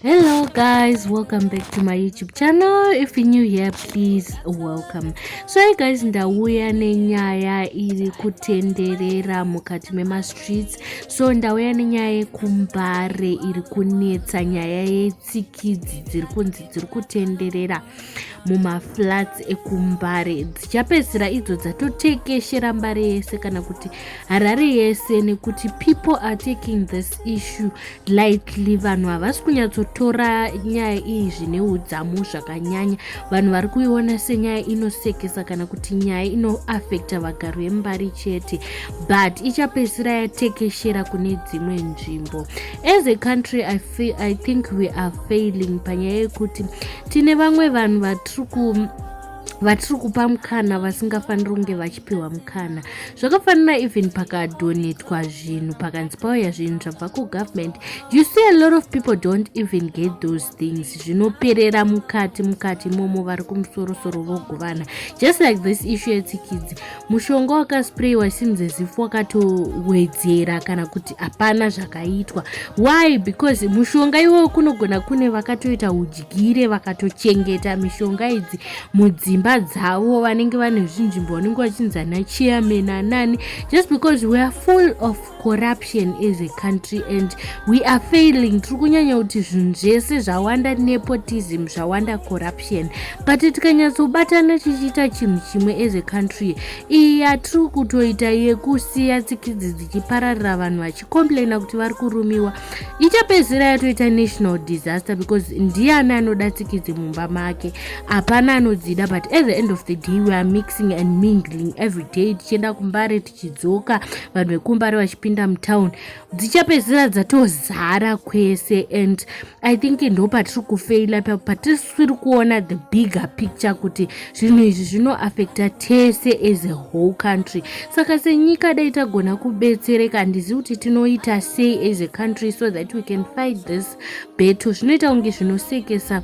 hello guys welcome back to my youtube channel if you're new here please welcome so hi guys ndauya nenyaya iri kutenderera mukati memastreets so ndauya nenyaya yekumbare iri kunetsa nyaya yetsikidzi dziri kunzi dziri kutenderera mumaflats ekumbare dzichapedzisira idzo dzatotekeshera mbare yese kana kuti harare yese nekuti people are taking this issue lightly vanhu havasi kunyatsotora nyaya iyi zvine udzamu zvakanyanya vanhu vari kuiona senyaya inosekesa kana kuti nyaya inoafekta vagari vembari chete but ichapedzisira yatekeshera kune dzimwe nzvimbo as a country I see i think we are failing panyaya yekuti tine vamwe vanhu vatiri ku vatiri kupa mukana vasingafaniri kunge vachipiwa mukana zvakafanira even pakadonetwa zvinhu pakanzi pauya zvinhu zvabva kugovernment you see a lot of people don't even get those things zvinoperera mukati mukati imomo vari kumusorosoro vogovana just like this issue yetsikidzi mushonga wakasprayiwa seems as if wakatowedzera kana kuti hapana zvakaitwa why because mushonga iwoyo kunogona kune vakatoita udyire vakatochengeta mishonga idzi mudzimba dzavo vanenge vane zvinzvimbo vanenge vachinzi ana chairman anani just because weare full of corruption as a country and we are failing tiri kunyanya kuti zvinhu zvese zvawanda nepotism zvawanda corruption but tikanyatsobatana tichiita chinhu chimwe as a country iyi yatiri kutoita yekusiya tsikidzi dzichipararira vanhu vachicomplaina kuti vari kurumiwa ichapedzisira yatoita national disaster because ndiani anoda tsikidzi mumba make hapana anodzida but at the end of the day we are mixing and mingling every day tichienda kumbare chidzoka vanhu vekumbare vachipinda mutown dzichapedzisira dzatozara kwese and i think ndo patiri kufeila pa patisiri kuona the bigger picture kuti zvinhu izvi zvinoafecta tese as a whole country saka senyika dai tagona kubetsereka handizivi kuti tinoita sei as a country so that we can fight this beto zvinoita kunge zvinosekesa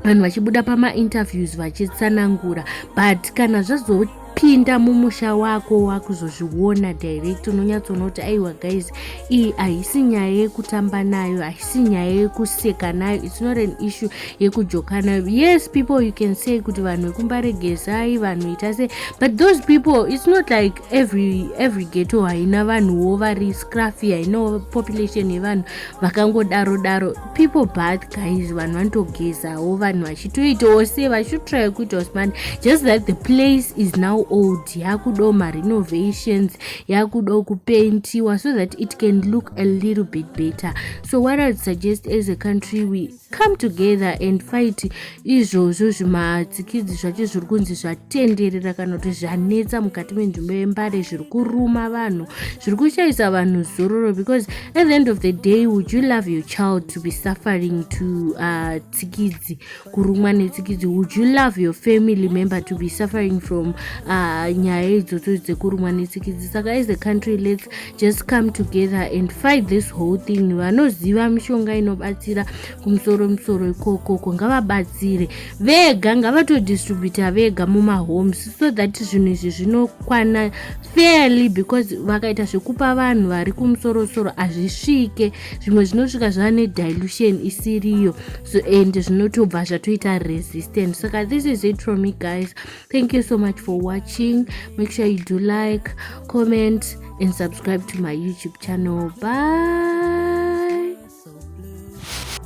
vanhu vachibuda pamainterviews vachitsanangura but kana zvazo pinda mumusha wako wakuzozviona direct unonyatsoona kuti aiwa guys iyi haisi nyaya yekutamba nayo haisi nyaya yekuseka nayo its not an issue yekujoka nayo yes people you can say kuti vanhu vekumbaregezai vanhu ita se but those people its not like every, every geto haina vanhuwo vari scraffy hainawo population yevanhu vakangodaro daro people bath guys vanhu vanotogezawo vanhu vachitoitawo se vachitotraya kuitawo smart just that the place is now old yakudawo marenovations yakudawo kupentiwa so that it can look a little bit better so what i suggest as a country we come together and fight izvozvo zvimatsikidzi zvacho zviri kunzi zvatenderera kana kuti zvanetsa mukati menzvimbo yembare zviri kuruma vanhu zviri kushaisa vanhu zororo because at the end of the day would you love your child to be suffering to uh, tsikidzi kurumwa netsikidzi would you love your family member to be suffering from uh, nyaya idzodzo dzekurumwa netsikidzi saka as a country let's just come together and fight this whole thing vanoziva mishonga inobatsira kumusoro musoro ikokoko ngavabatsire vega ngavatodistributa vega mumahomes so that zvinhu izvi zvinokwana fairly because vakaita zvekupa vanhu vari kumusorosoro hazvisvike zvimwe zvinosvika zvava nedilution isiriyo so and zvinotobva zvatoita resistant saka this is it from me guys thank you so much for watching make sure you do like comment and subscribe to my youtube channel bye